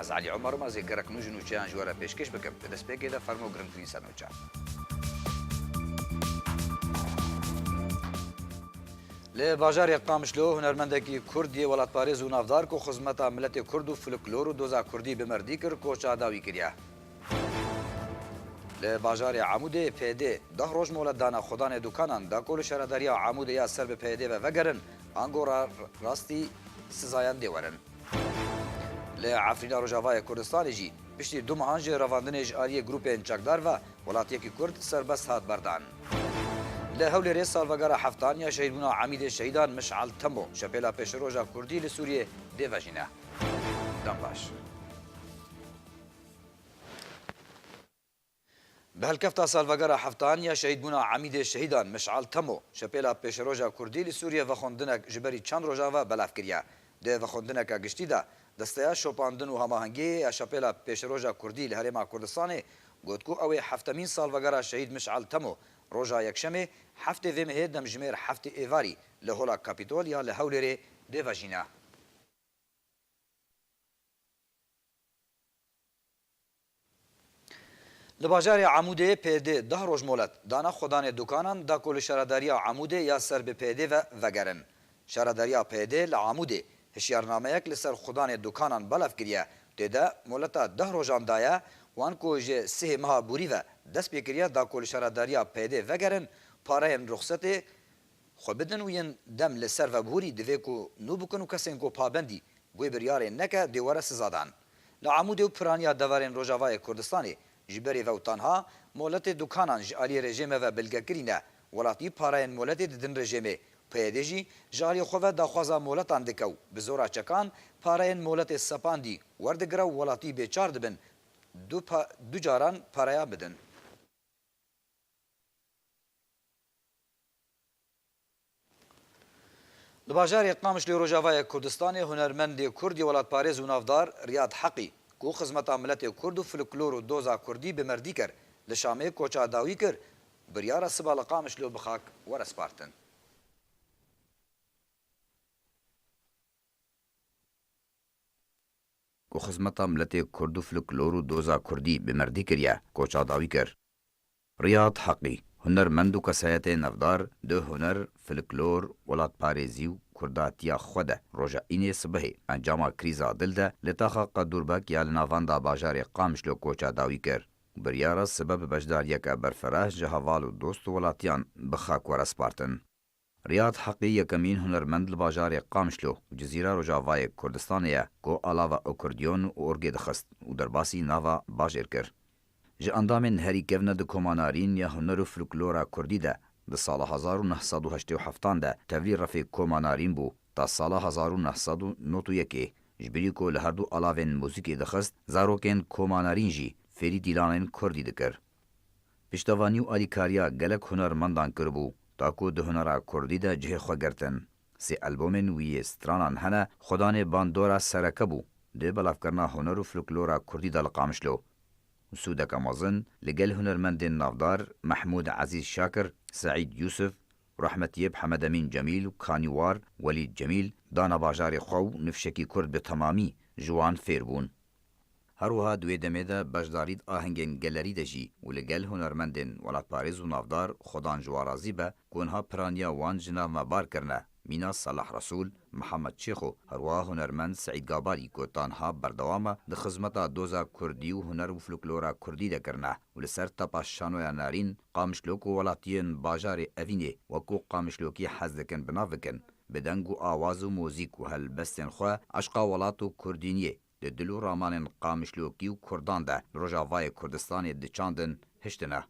Ez Elî Omer im, ez ê gelek nû ji nûçeyan ji we re pêşkêş bikim. Di destpêkê de fermo girîngtirîn ser nûçe. Li bajarê Qamişlo hunermendekî kurd yê welatparêz û navdar ku xizmeta miletê kurd û fliklor û doza kurdî bi merdî kir koça dawî kiriye. Li bajarê Amûdê PYD deh roj molet dane xwedanê dûkanan da ku li şaredariya Amûdê ya ser bi PYD ve vegerin ango rastî sizayan dê werin. Li Efrîna Rojavayê Kurdistanê jî piştî du mehan ji revandinê ji aliyê grûpên çekdar ve welatiyekî Kurd serbest hat berdan. Li Hewlêrê salvegera heftan ya şehîdbûna emîdê şehîdan Miş'el Temo şepêla pêşiroja Kurdî li Sûriyê dê vejîne. Dem baş. Bi hilkefta salvegera heftan ya şehîdbûna Emîdê Şehîdan Mişal Temo, Şepêla Pêşeroja Kurdî li Sûriyê vexwendinnek ji berî çend rojan ve belav kiriye. Di vexwendineke giştî de Desteya Şopandin û Hamahengiyê ya Şepêla Pêşeroja Kurdî li Herêma Kurdistanê got ku ew ê heftemîn salvegera şehîd Mişal Temo roja Yekşemê heftê vê mehê demjimêr heftê êvarî li Hola Kapîtol ya li Hewlêrê dê vejîne. Li bajarê Amûdê PD deh roj molet dana xwedanê dukanan da ku li şaredariya Amûdê ya ser bi PD'ê ve vegerin. Şaredariya PD li Amûdê hişyarnameyek li ser xwedanê dukanan belav kiriye, tê de moleta deh rojan daye wan ku ji sihê meha borî ve dest pê kiriye da ku li şaredariya PD'ê vegerin pareyên rixsetê Xwe bidin û yên dem li ser vebûrî divê ku nû bikin û kesên ku pabendî wê biryarê neke dê were siza dan. Li Amûdê û piraniya deverên Rojavayê Kurdistanê ji berê ve û tanha moletê dukanan ji aliyê rejême ve bilge kirîne, welatî pareyên moletê didin rejêmê, PYD jî ji aliyê xwe ve daxwaza moletan dike û bi zora çekan pareyên moletê sepandî werdigire û welatî bêçar dibin du du caran pareyan bidin. Li bajarê Qamişlo Rojavayê Kurdistanê hunermendê kurdî welatparêz û navdar Riyad Heqî ku xizmeta miletê kurd û fliklor û doza kurdî bi merdî ker li Şamê koça dawî kir biryara siba li Qamişlo bi xak were spartin. ku xizmeta miletê kurd û fliklor û doza kurdî bi merdî kiriye koça dawî kir. Riyad Heqî, hunermend û kesayetê navdar di huner, filiklor, welatparêzî û kurdatiya xwe de roja înê sibehê encama krîza dil de li taxa Qedûrbek ya li navenda bajarê Qamişlo koça dawî kir û biryara sibe bi beşdariyeke berfireh ji heval û dost û welatiyan bi xak werespartin. Riyad Heqî yekemîn hunermend li bajarê Qamişlo û Cizîra Rojavayê Kurdistanê ye ku alava okordiyon û orgê dixist û derbasî nava bajêr kir. Ji endamên herî kevne di koma Narîn ya huner û flklora kurdî de di sala hezar û neh sed û heştê û heftan de tevlî refê koma Narîn bû ta sala hezar û neh sed û nod û yekê ji birî ku li herdu alavên muzîkê dixist zarokên koma Narîn jî fêrî dîlanên kurdî dikir. Piştevanî û alîkariya gelek hunermendan kiribû ta ku di hunera kurdî de cihê xwe girtin. Sê elbomên wî yê stranan hene, Xwedanê bandora sereke bû di belavkirina huner û fluklora kurdî de li Qamişlo û sûdeke mezin li gel hunermendên navdar Mehmûd Ezîz Şakir, Seîd Yûsif, Rahmetiyeb Hemedemîn Cemîl û kanîwar Welîd Cemîl dana bajarê xwe û nifşekî kurd bi temamî ji wan fêr bûn. Her wiha di wê demê de beşdarî di ahengên gelerî de jî û li gel hunermendên welatparêz û navdar xwe dan ji wan razî be ku wiha piraniya wan ji nav me bar kirine, mîna Salah Resûl, Mihemed Çêxo, her wiha hunermend Seîd Gabalî ku tanha berdewam e di xizmeta doza kurdî û huner û flklora kurdî de kirine û li ser tapa şanoya Narîn Qamişlok û welatiyên bajarê Evînê wekû Qamişlokî hez dikin bi nav bikin bi deng û awaz û mûzîk û helbestên xwe eşqa welat û kurdîniyê Di dil û ramanên Qamişlokî û Kurdan de li Rojavayê Kurdistanê diçandin, hiştine.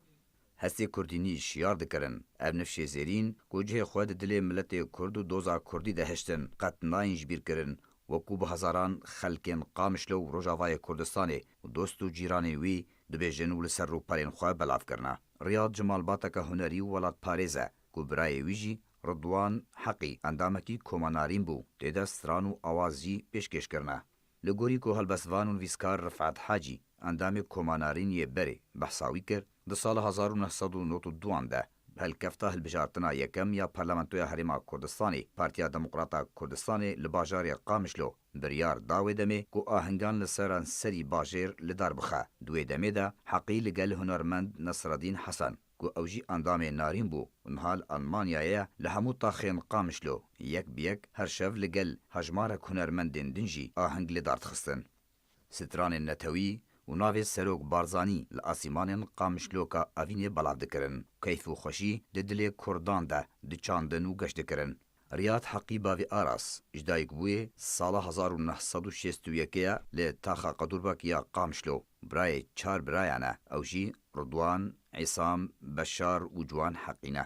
Hestê Kurdînî şiyar dikirin. Ev nifşê zêrîn ku cihê xwe di dilê miletê Kurd û doza Kurdî de hiştin, qet nayên ji bîr kirin. Wekû bi hezaran xelkên Qamişlo û Rojavayê Kurdistanê û dost û cîranên wî dibêjin û li ser rûpelên xwe belav kirine. Riyad ji malbateke hunerî û welatparêz e ku birayê wî jî Ridwan Heqî endamekî Koma Narîn bû, tê de stran û awaz jî pêşkêş kirine. Li gorî ku helbestvan û nivîskar Rifet Hacî, endamê Koma Narîn yê berê behsa wî kir, di sala hezar û neh sed û nod û duan de bi helkefta hilbijartina yekem ya Parlamentoya Herêma Kurdistanê, Partiya Demokrata Kurdistanê li bajarê Qamişlo biryar da wê demê ku ahingan li seranserî bajêr li dar bixe. Di wê demê de Heqî li gel hunermend Nesredîn Hesen, ku ew jî endamê Narîn bû û niha li Elmanyayê ye, li hemû taxên Qamişlo yek bi yek her şev li gel hejmarek hunermendên din jî aheng li dar dixistin. Stranên netewî û navê Serok Barzanî li asîmanên Qamişloka Evînê belav dikirin. Keyf û xweşî di dilê Kurdan de diçandin û geş dikirin. Riyad Heqî Bavî Aras ji dayikbûyê sala hezar û neh sed û şêst û yek ye li Taxa Qedûrbek ya Qamişlo. Birayê çar birayan e, ew jî Ridwan, Îsam, Beşar û Ciwan Heqî ne.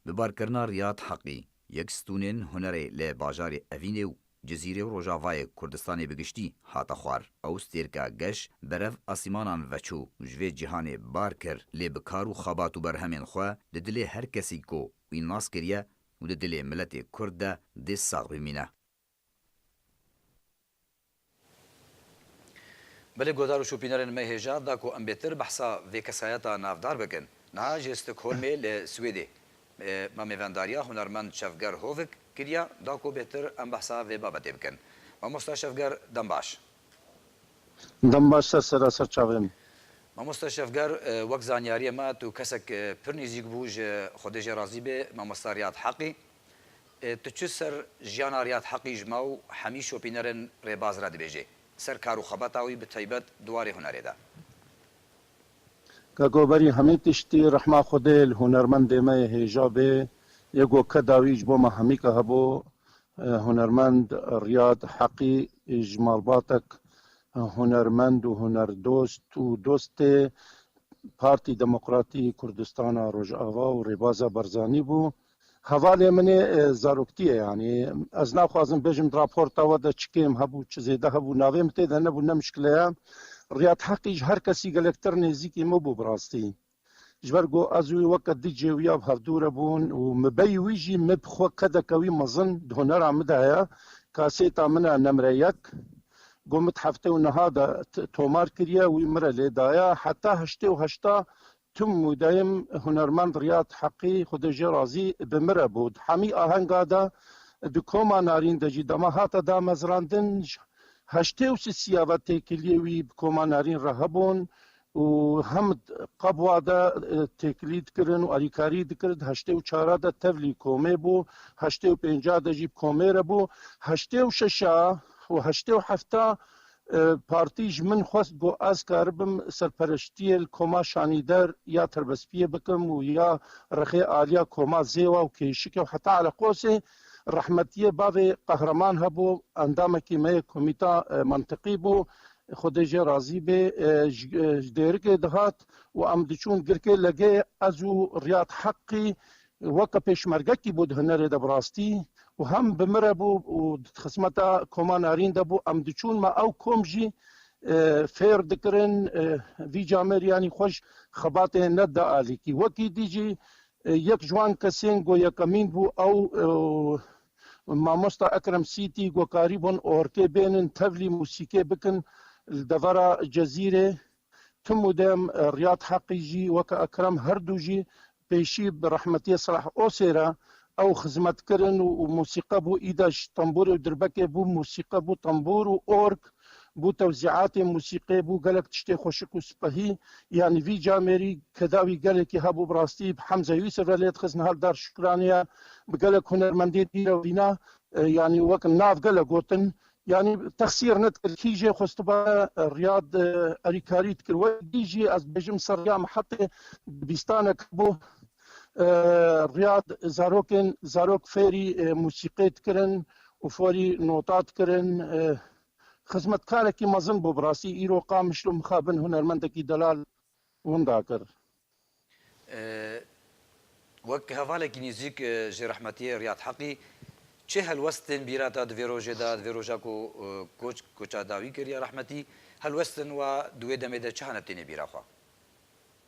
Bi barkirina Riyad Heqî, yek stûnên hunerê li bajarê Evînê û Cizîrê û Rojavayê Kurdistanê bi giştî hate xwar. Ew stêrka geş berev asîmanan veçû û ji vê cîhanê bar kir, lê bi kar û xebat û berhemên xwe li dilê her kesî ku wî nas kiriye û di dilê miletê Kurd de dê sax bimîne. Belê guhdar û şopînerên me hêja da ku em bêtir behsa vê kesayeta navdar bikin. Niha ji Stockholmê li Swêdê me mêvendariya hunermend Şevger Hovik kiriye da ku bêtir em behsa vê babetê bikin. Mamosta Şevger dem baş. Dem baş ser sera ser çavê min. Mamoste Şefger wek zanyariyê me tu kesek pir nîzîk bû ji Xwedê jê razî bê Mamosta Riyad Heqî. Tu çi ser jiyana Riyad Heqî ji me û hemî şopînerên rêbaz re dibêjî ser kar û xebata wî bi taybet di warê hunerê de? Keko berî hemî tiştî rehma Xwedê li hunermendê me yê hêja bê. Yê ku ke dawî ji bo me hemî ke hebû Hunermend Riyad Heqî ji malbatek hunermend û hunerdost û dostê Partî Demokratî Kurdistana Rojava û Rêbaza Barzanî bû. Hevalê min ê zaroktî ye yanî ez naxwazim bêjim di raporta we de çi kêm hebû çi zêde hebû navê min tê de nebû ne mişkile ye. Riyad Heqî ji her kesî gelektir nêzîkî min bû bi rastî. Ji ber ku ez û wî weke du cêwiya bi hevdû re bûn û mebeyê wî jî min bi xwe qedeke wî mezin di hunera min de heye. Kasêta min e Nemre yek ku min di heftê û niha de tomar kiriye, wî min re lê daye. Heta heştê û heşta tim û dayim hunermend Riyad Heqî, Xwedê jê razî bi, min re bû. Di hemî ahenga de di koma Narîn de jî dema hate damezrandin, ji heştê û sisiya ve têkiliyê wî bi koma Narîn re hebûn û hem Qabwa de têkilî dikirin û alîkarî dikirin. Di heştê û çara de tevlî komê bû, heştê û pênca de jî bi komê re bû. Heştê û şeşa û heştê û hefta partî ji min xwest ku ez karibim serpereştiyê li koma Şanîder ya Terbespiyê bikim û ya rexê aliya koma Zêwa û Kêşikê û heta Eleqosê. Rehmetiyê bavê Qehreman hebû, endamekî me yê komîta Mintiqî bû. Ê Xwedê jê razî bê, ji dêrikê dihat û em diçûn girkê legê. Ez û Riyad Heqî weke pêşmergekî bû di hunerê de bi rastî û hem bi min re bû û di xizmeta koma Narîn de bû. Em diçûn me ew kom jî fêr dikirin. Vî camêr yanî xwe ji xebatê ne da alîkî. Wekî dî jî yek ji wan kesên ku yekemîn bû ew Mamosta Ekrem Sîtî ku karîbûn ortê bênin tevlî mûsîkê bikin li devera Cezîrê tim û dem Riyad Heqî jî weke Ekrem her du jî pêşî bi rehmetiyê Seleh Osê re ew xizmet kirin û mûsîqe bû îde ji tembûrê û dirbekê bû mûsîqe bû tembûr û org Bû tewzîatê musîqê, bû gelek tiştê xweşik û sipehî. Yanî vî camêrî ke dawî gelekî hebû bi rastî bi Hemze Yûsif re lê dixist nihal dar şukraniye bi gelek hunermendê dî re vîna yanî wek nav gele gotin yanî texsîr nedikir kî jê xwestibare Riyad erîkarî dikir wek dî jî ez dibêjim ser Rîya Mihetê dibistanek hebû Riyad zarokên zarok fêrî musîqê dikirin û forî nota dikirin. Xizmetkarekî mezin bû bi rastî. Îro Qamişlo mixabin hunermendekî delal winda kir. Wek hevalekî nêzîk ji rehmetiyê Riyad Heqî çi helwest tên bîra te di vê rojê de, di vê roja ku koç koça dawî kir ya rehmetî, helwestên we di wê demê de çi hene tênê bîra xwe?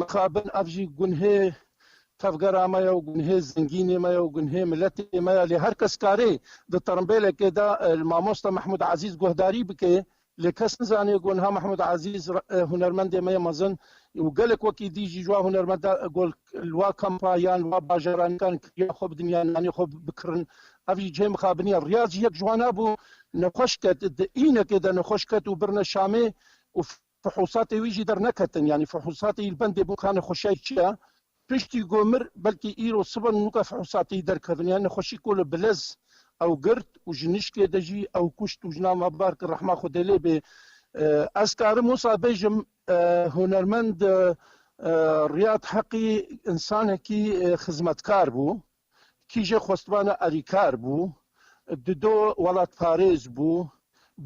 Mixabin ev jî gunhê tevgera me ye û gunhê zengînê me ye û gunhê miletê me ye. Lê her kes karê di tirimbêlekê de li mamosta Mehmûd Ezîz guhdarî bike. Lê kes nizane ku niha Mehmûd Ezîz hunermendê me ye mezin û gelek wekî dî jî ji wan hunermenda ku li wan kampa yan li wan bajaranikan kiriya xwe bidin yan nanê xwe bikirin. Ev jî cihê mixabinê ye. Riyaz jî yek ji wan hebû. Nexweş ket, di îynekê de nexweş ket û birine Şamê û Fuhûsatê wî jî derneketin, yanî fuhûsatê îl bendê bû ka nexweşiyayîk çi ya. Piştî got mir, belkî îro sibe nûka fuhûsatê î derkevin. Yanî nexweşî ku li Bilez ew girt û ji nişkê de jî ew kuşt û jina me bar kir rehma Xwedê lê bê. Ez karim wisa bêjim hunermend Riyad Heqî însanekî xizmetkar bû. Kî jê xwestvana alîkar bû, dido welatparêz bû,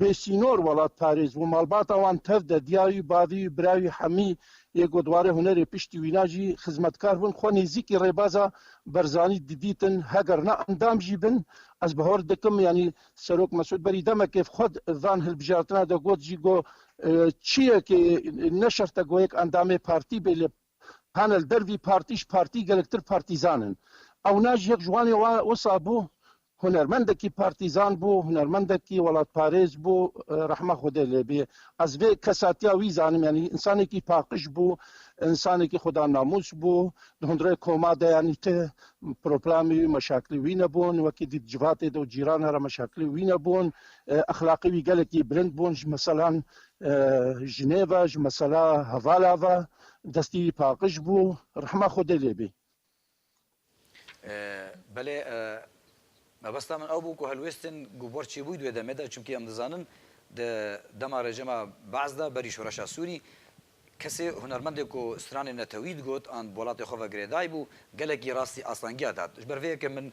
bêsînor welatparêz bû. Malbata wan tev de diyayî, bavî, biravî hemî yê ku dwarê hunerê piştî wîna jî xizmetkar bûn. Xwe nêzîkî rêbaza Berzanî didîtin. Heger na endam jî bin, ez bihor dikim yanî Serok Mesûd berî demekê xwe di van hilbijartina de got jî ku çiyekê ne şert e ku yek endamê partî bê lê Hane li der vî partî ji partî gelektir partîzan in. Ewna ji yek ji wan ê wisa bû, hunermendekî partîzan bû, hunermendekî welatparêz bû, rehma Xwedê lê bê. Ez vê kesatiya wî zanim, yanî însanekî paqij bû, însanekî xweda namûs bû, di hundirê koma de yanî ti proplamê wî, meşakilê wî nebûn, wekî dît civatê de û cîrana re meşakilê wî nebûn, exlaqê wî gelekî bilind bûn ji mesela jinê ve, ji mesela hevala ve. Destê wî paqij bû rehma Xwedê lê bê. Belê mebesta min ew bû ku helwêstên gobar çêbûyî di wê demê de çimkî em dizanin di dema rejima Be'z de berî şoreşa Sûrî kesê hunermendê ku stranê netewî digot an bi welatê xwe ve girêdayî bû gelekî rastî asangiya dat. Ji ber vê yekê min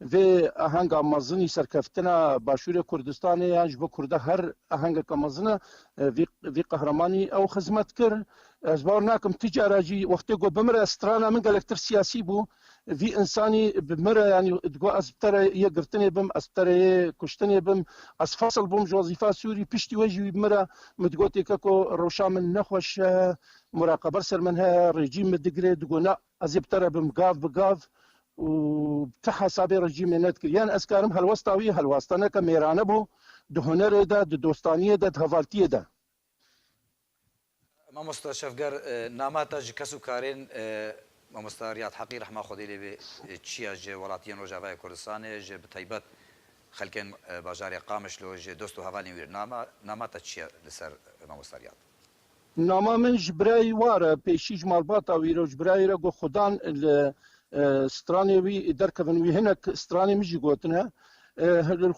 Vê ahenga mezin î serkeftina Başûrê Kurdistanê yan ji bo Kurda her ahengeke mezin e. Vî vî qehremanî ew xizmet kir. Ez bawer nakim tu cara jî wextê ku bimire strana min gelek tir siyasî bû. Vî însanî bimire yanî digo ez bi tere yê girtinê bim, ez bi tere yê kuştinê bim. Ez fesl bûm ji wezîfa sûrî piştî wê jî wî bimire min digo têke ku rewşa min ne xweş e, muraqebe li ser min heye, rejîm min digire digo na. Ez ê bi te re bim gav bi gav û bi ti hesabê rejîmê ne dikir. Yan ez karim helwesta wî helwastaneke mêrane bû di hunerê de, di dostaniyê de, di hevaltiyê de. Mamosta Şevger, nama te ji kes û karên Mamosta Riyad Heqî rehma Xwedê lê be çi ye ji welatiyên Rojavayê Kurdistanê, ji bi taybet xelkên bajarê Qamişlo, ji dost û hevalên wî re nama te çi ye li ser Mamosta Riyad? Nama min ji birayî war e, pêşî ji malbata wî re û ji birayî re got Xudan li stranê wî derkevin, wî hinek stranê min jî gotine.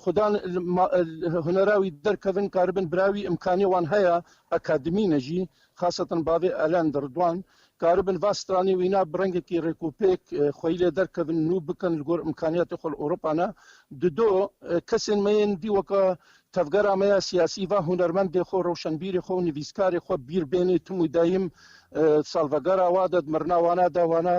Xudan li hunera wî derkevin karibin birayî wî imkanî wan heye, akademî ne jî, xasatan bavê Elend Ridwan dikaribin va stranê wîna bi rengekî rêkûpêk xweyî lê derkevin, nû bikin li gor îmkanîyatê xwe li Ewropa ne. Di do, kesên me yên dî weke tevgera me ya sîyasî va hunermendê xwe, rewşenbîrê xwe û nivîskarê xwe bîr bênê tim û dayîm salvegera wa de, di mirina wana de wana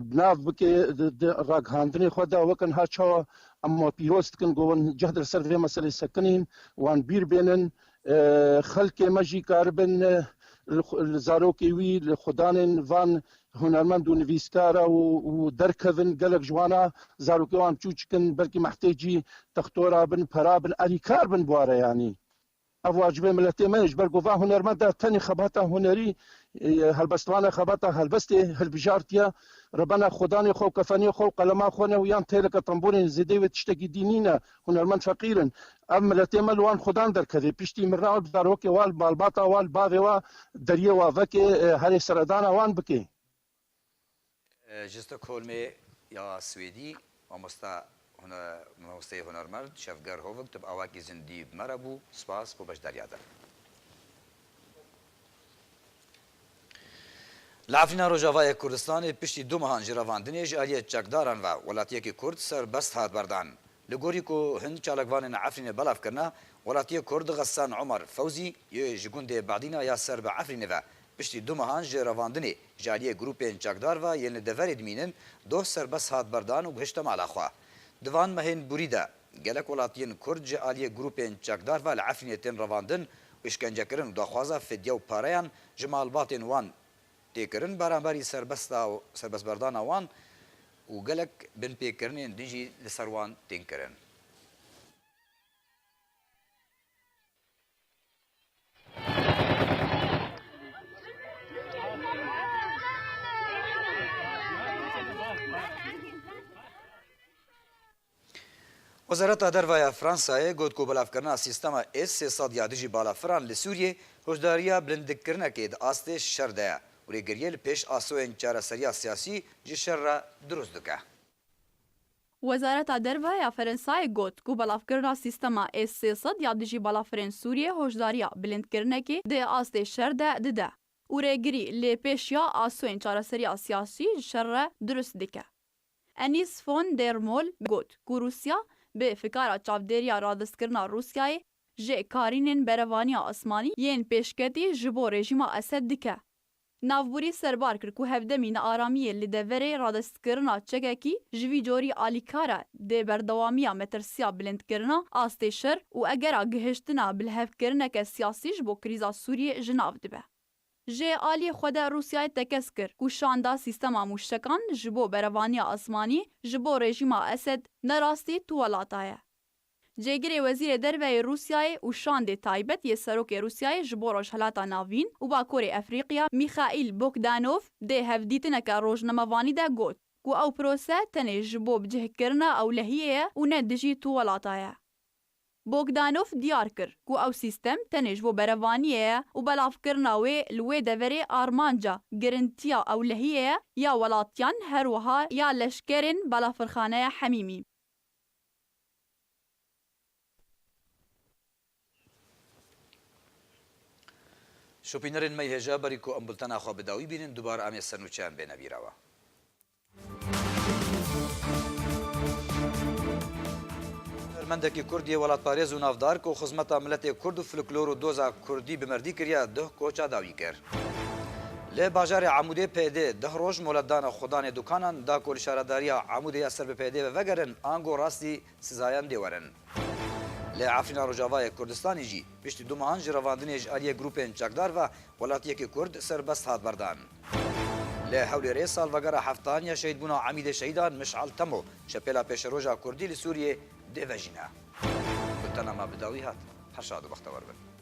bi nav bikê di ragihandinê xwe de weke niha çawa em wan pîroz dikin ku wan cehd li ser vê meselê sekinîn, wan bîr bênin Xelkê me jî karibin li zarokê wî, li xwedanên van hunermend û nivîskar a û derkevin. Gelek ji wan a zarokê wan çûçik in, belkî mehtêcî textora bin, pera bin, alîkar bin bware yanî. Ev wacibê miletê me ye. Ji ber ku van hunermend a tenê xebata hunerî, helbestvane xebata helbestê hilbijartiye, rebena xwedanê xwe û kefenê xwe û qelema xwe ne û yan têleke tembûrên zêdeyê wê tiştekî dî nîne. Hunermend feqîr in. Ev miletê me li wan xudan derkevê. Piştî mirina wan bi zarokê wan, li balbata wan, li bavê wan, deriyê wan vekê, herê seredana wan bikê. Ji Stockholmê ya Swêdî mamosta mamosteyê hunermerd Şevger Hovig tu bi awayekî zindî bi me re bû. Spas bo beşdariya te. Li Efrîna Rojavayê Kurdistanê piştî du mehan ji revandinê ji aliyê çekdaran ve welatiyekî Kurd serbest hat berdan. Li gorî ku hin çalakvanên Efrînê belav kirine, welatiyê Kurd Xessan Omar Fewzî yê ji gundê Badîna ya ser bi Efrînê ve piştî du mehan ji revandinê ji aliyê grûpên çekdar ve yên li deverê dimînin doh serbest hat berdan û gihişte mala xwe. Di van mehên bûrî de, Gelek welatiyên Kurd ji aliyê grûpên çekdar ve li Efrînê tên revandin, îşkencekirin û daxwaza fidye û pareyan ji malbatên wan tê kirin beramberî serbestberdana wan û gelek binpêkirinên din jî li ser wan tên kirin. Wezareta Derve ya Fransayê got ku belavkirina sîstema S-300 ya dijî balafiran li Sûriyê hoşdariya bilindkirinekê di astê şer de ye û rêgiriyê li pêş asoyên çareseriya siyasî ji şer re dirûst dike. Wezareta Derve ya Ferensayê got ku belavkirina sîstema S sê sed ya dijî balafirên Sûriyê hoşdariya bilindkirinekê di astê şer de dide û rêgirî lê pêş ya asoyên çareseriya siyasî ji şer re dirust dike. Enîs Fon der Mol got ku Rûsya bi fikara çavdêriya radestkirina Rûsyayê jê karînên berevaniya asmanî yên pêşketî ji bo rejîma Esed dike. Navbûrî serbar kir ku hevdemî nearamiyê li deverê radestkirina çekekî ji vî corî alîkar e, dê berdewamiya metirsiya bilindkirina astê şer û egera gihiştina bilhevkirineke siyasî ji bo krîza Sûriyê ji nav dibe. Ji aliyê xwe de Rûsyayê tekez kir ku şanda sîstema mûştekan ji bo berevaniya asmanî ji bo rejîma Esed ne rastî tu welata ye. Cêgirê Wezîrê Derveyê Rûsyayê û Şandê Taybet yê Serokê Rûsyayê ji bo Rojhilata Navîn û Bakurê Efrîqya Mîxaîl Bogdanov dê hevdîtineke rojnamevanî de got ku ew prose tenê ji bo bicihkirina ewlehiyê ye û ne dijî tu welata ye. Bogdanov diyar kir ku ew sîstem tenê ji bo berevaniyê ye û belavkirina wê li wê deverê armanca girintiya ewlehiyê ye ya welatiyan her wiha ya leşkerên Balafirxaneya Hemîmî. Şopînerên me hêja berî ku em bultena xwe bi dawî bînin dubar em ê ser nûçeyan bêne bîrawa. Hunermendekî Kurd yê welatparêz û navdar ku xizmeta miletê Kurd û fluklor û doza Kurdî bi merdî kiriye, duh koça dawî kir. Li bajarê Amûdê PD deh roj molet dana xwedanê dukanan da ku li şaredariya Amûdê ya ser bi PD'ê ve vegerin ango rastî sizayan dê werin. Li Efrîna Rojavayê Kurdistanê jî piştî du mehan ji revandinê ji aliyê grûpên çekdar ve welatiyekî Kurd serbest hat berdan. Li Hewlêrê salvegera heftan ya şehîdbûna Emîdê Şehîdan Mişal Temo Şepêla Pêşeroja Kurdî li Sûriyê dê vejîne. Gultena me bi dawî hat. Her şad û bextewar bin.